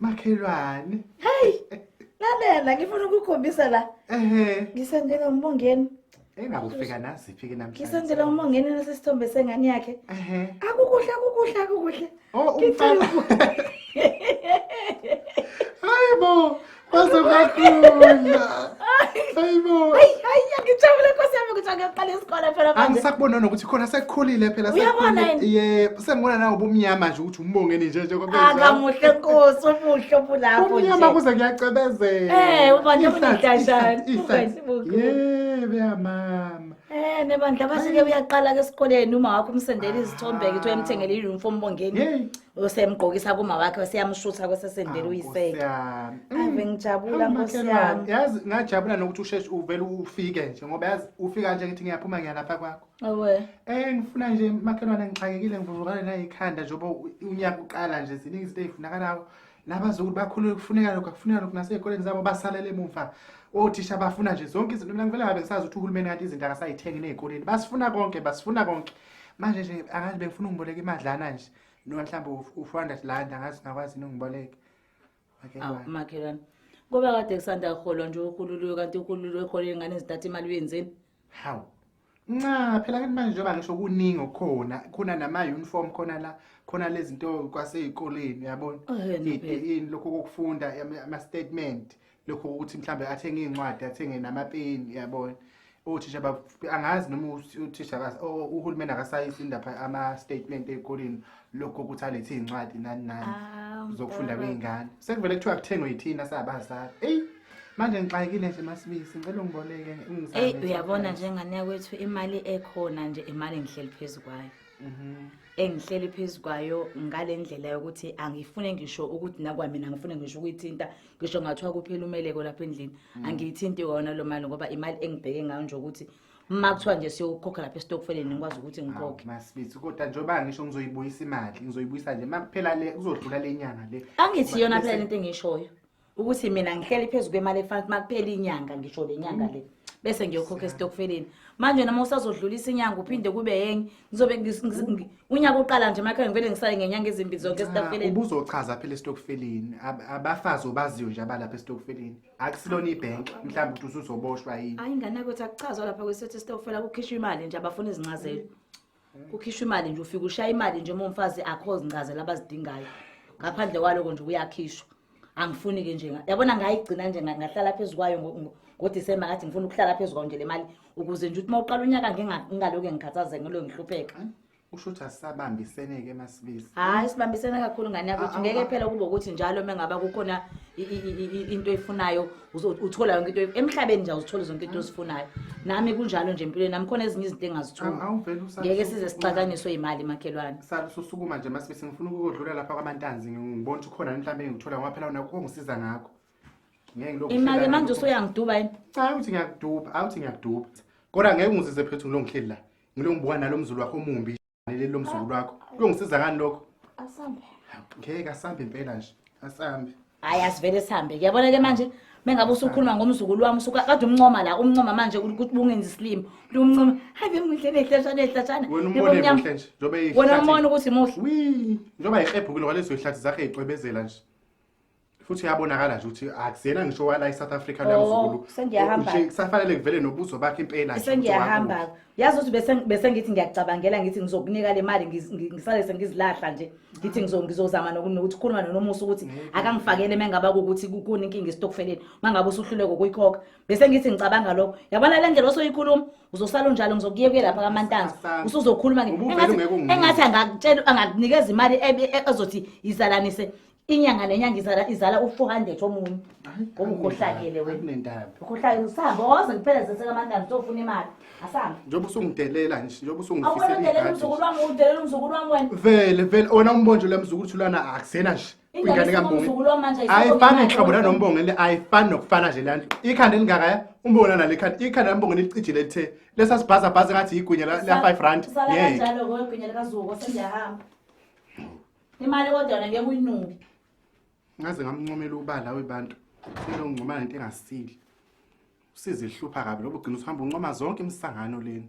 makhelwane hey lalela ngifuna ukukhombisa la ehe ngisendela umbongeni engakufika naziphi ke namhlanje ngisendela umbongeni nasesithombe sengane yakhe ehe akukuhle akukuhle akukuhle oh umfana hayibo Bazokaqina. Hayibo. Hayi hayi ngijabule Nkosi yami ukuthi angaqala isikole phela manje. Angisakubona nokuthi khona sekukhulile phela Uyabona yini? Yebo, sengibona nawe ubumnyama nje ukuthi umbongeni nje nje kwabe. Akamuhle Nkosi umuhle obulapho nje. Ubumnyama kuze kuyacebezela. Eh, uba nje unidashana. Yebo ya mama. Eh nebandla basike uyaqala ke esikoleni uma wakho umsendela izithombe ke uthi uyamthengela i-uniform bongeni. usemgqokisa kuma wakhe useyamshutha kwesesendela Awu, uyiseke Nkosi yami. Mm. ave ngijabula Awu, nkosi makhelwane, yami yazi ngajabula nokuthi usheshe uvele ufike nje ngoba yazi ufika nje ngithi ngiyaphuma ngiyalapha kwakho owe Eh ngifuna nje makhelwane ngixakekile ngivuvukane nayikhanda njengoba u- unyaka uqala nje ziningi izinto ezifunakalayo nabazukulu bakhulule kufuneka lokho akufuneka lokho nasey'koleni zabo basalele emumva othisha bafuna nje zonke izinto mina ngivele ngabe ngisazi ukuthi uhulumeni kanti izinto akasayithengi ney'koleni basifuna konke basifuna konke manje nje angazi bengifuna ungiboleka imadlana nje noma mhlawumbe u-four hundred land angazi ngakwazi yini ungiboleke awu makhelwane kube kade kusanda kuholwa nje uhululiwe kanti uhululiwe ekhole ingane zithatha imali uyenzeni hawu nca phela kanti manje njengoba ngisho kuningi okukhona khona nama-uniform khona la khona lezi zinto kwasey'koleni uyabona Oh, yena phela. ini lokhu kokufunda ama- ama-statement lokho ukuthi mhlambe athenge iy'ncwadi athenge namapeni yabona othisha angazi noma uthisha uhulumeni akasayisi indaba ama-statement ey'koleni lokho ukuthi alethe iy'ncwadi nani nani ah, zokufunda kwey'ngane sekuvele kuthiwa kuthengwe yithina sabazali eyi manje ngixakile nje masibisi ngicela ungiboleke eyi uyabona njenganea kwethu imali ekhona nje imali engihleli phezu kwayo mhm. engihleli phezu kwayo ngale ndlela yokuthi angifune ngisho ukuthi nakwamina ngifune ngisho ukuyithinta ngisho ngathiwa kuphela umeleko lapha endlini mm. angiyithinti wona lo mali ngoba imali engibheke ngayo nje ukuthi uma kuthiwa nje siyokhokha lapha esitokfeleni ngikwazi ukuthi ngikhokhe masibithi kodwa njengoba ngisho ngizoyibuyisa imali ngizoyibuyisa nje uma kuphela le kuzodlula le nyanga le angithi yona phela lento engishoyo ukuthi mina ngihleli phezu kwemali efanele uma kuphela inyanga ngisho le nyanga le mm. bese ngiyokhokha esitokfeleni manje noma usazodlulisa inyanga uphinde kube yenye ngizobe ngis- ngis- ngi- unyaka uqala nje emakhaya ngivele ngisale ngenyanga ezimbili zonke esitokfeleni ubuzochaza phela esitokfeleni Ab- abafazi obaziyo nje abalapha esitokfeleni akusilona ibhenki mhlawumbe ukuthi usuzoboshwa yini hayi ingane yakwethu akuchazwa lapha kwesithetho esitokfela kukhishwa imali nje abafuna izincazelo kukhishwa imali nje ufike ushaya imali nje uma umfazi akho zincazela abazidingayo ngaphandle kwaloko nje kuyakhishwa angifuni-ke nje yabona ngayigcina nje ngahlala phezu kwayo ngodisemba ngathi ngifuna ukuhlala phezu kwayo nje le mali ukuze nje ukuthi uma uqala unyaka ngingaloke ngikhathazeke ngilo ngihlupheka usho ukuthi asisabambisene-ke masibisi hhayi sibambisene kakhulu ngane yakho ukuthi ngeke phela kube ukuthi njalo uma ngaba kukhona into eyifunayo Uzo- uthola yonke into emhlabeni nje uzithola zonke into ozifunayo nami kunjalo nje empilweni nami khona ezinye izinto engazitholi Awu- awuvele usale ngeke usuku- size sixakaniswe yimali makhelwane Sa- susukuma nje masibisi ngifuna ukukodlula lapha kwamantanzi ngibona ukuthi ukhona mhlawumbe engithola ngoba phela unakho kongisiza ngakho ngeke ngilokhu imali ngihlala manje nalokho. usuyangiduba yini cha awuthi ngiyakuduba awuthi ngiyakuduba kodwa ngeke ungizize phethu ngilongihleli la ngilongibuka nalo mzulu wakho omumbi leli lomzukulu wakho kuyongisiza ngani lokho asambe ngeke asambe impela nje asambe hayi asivele sihambe kuyabona ke manje mengabe usukhuluma ngomzukulu wami usuka kade umncoma la umncoma manje ukuthi bungenzi isilimo lumncoma hayi bemuhle nehlashana ehlashana wena umbona ukuthi muhle njengoba yihebhukile kwalezo yihlathi zakhe yicwebezela nje futhi uyabonakala nje ukuthi akusiyena ngisho wala i-south africa Oh, lamzukulu sengiyahamba. Nje kusafanele kuvele nobuzo bakhe impela nje ukuthi sengiyahamba wakuphi. yazi ukuthi bese- bese ngithi ngiyacabangela ngithi ngizokunika le mali ngiz- ngi- ngisale sengizilahla nje ngithi ngizo- ngizozama noku- nokuthi khuluma nonomusa ukuthi akangifakele uma ngaba kukuthi kukuni inkinga esitokfeleni uma ngabe usuhluleka ukuyikhokha bese ngithi ngicabanga lokho yabona le ndlela osoyikhuluma uzosala unjalo ngizokuyekuye lapha kamantanzi Sasana. usuzokhuluma nge- Ubuvele engathi- ungeke ungincome. engathi angakutshela angakunikeza imali ebe- e- ezothi izalanise inyanga nenyanga izala izala u-400 omunye ngoba ukhohlakele wenaukhohlakele usahambe oze kuphela zeseka amanani uzofuna imali asahambe njengoba usungidelela nje njengoba usungifisedelela umzukulu wami udelela umzukulu wami wena vele vele ona umbonje le mzukulu thulana akusena nje ingane kambonge ayifani nhlobo nanombonge le ayifani nokufana nje lanto ikhanda elingakaya umbona nale khanda ikhanda lambonge licijile lithe lesasibhazabhaza ngathi yigwinya la 5 rand ngeke Imali kodwa ngeke uyinuke. Ngaze ngamncomela ubala webantu. Silo ngcoma into engasile. Usize ihlupha kabi lobo ugcina uhamba uncoma zonke imisangano leni.